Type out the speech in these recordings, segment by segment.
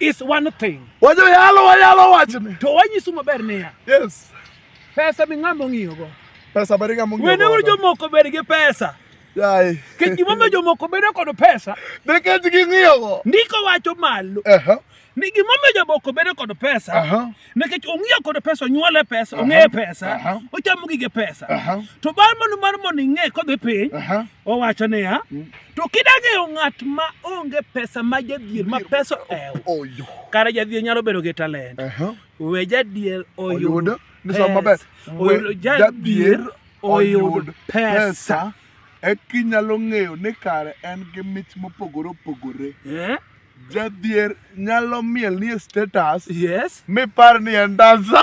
is one thing. Wajo yalo wayalo wachni. To wanyisu maber niya. Yes. Pesa mi ng'ama ong'iyogo. Pesa ber ng'ama ong'iyogo. Wene uru jomoko ber gi pesa. Yaye. Kech gimomiyo jomoko bedo kod pesa. Nikech ging'iyogo. Ndiko wacho malo. Uh -huh. ni gimomiyo jaboko bedo kod pesa uh -huh. nikech ong'iyo kod pesa onyuole pesa uh -huh. ong'eye pesa uh -huh. ochamo gige pesa uh -huh. to bang' mano mar mondo ing'e kodhi piny uh -huh. owacho niya mm. To kidag'eyo ng'at ma onge pesa ma jadhier ma pesa ew. Oyo. Kare jadhier nyalo bedo gi talent. Aha. We jadhier oyud. Oyud. Ni sama maber. Oyud We jadhier oyud pesa. Eki nyalo ng'eyo ni kare en gi mich mopogore opogore. Eh? Jadhier nyalo miel ni e status Yes. mi par ni en dansa.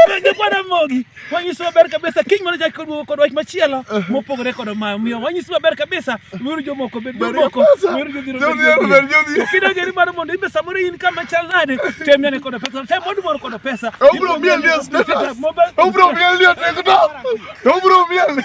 Penjo kwa Ramogi, wanyiso maber kabisa kiny mana chak kod kod wach machielo mopogore kod mayo. Miyo wanyiso maber kabisa weuru jomoko bed Bed jomoko. pesa. Weuru jodhier obed Jodhier jodhier. obed jodhier. Kido geri mar mondo ibe samoro in kama chal nade, tem nene kod pesa, tem mondo mor kod pesa. Obro miel ni e status. Mobile- Obro miel ni e TikTok. Obro miel.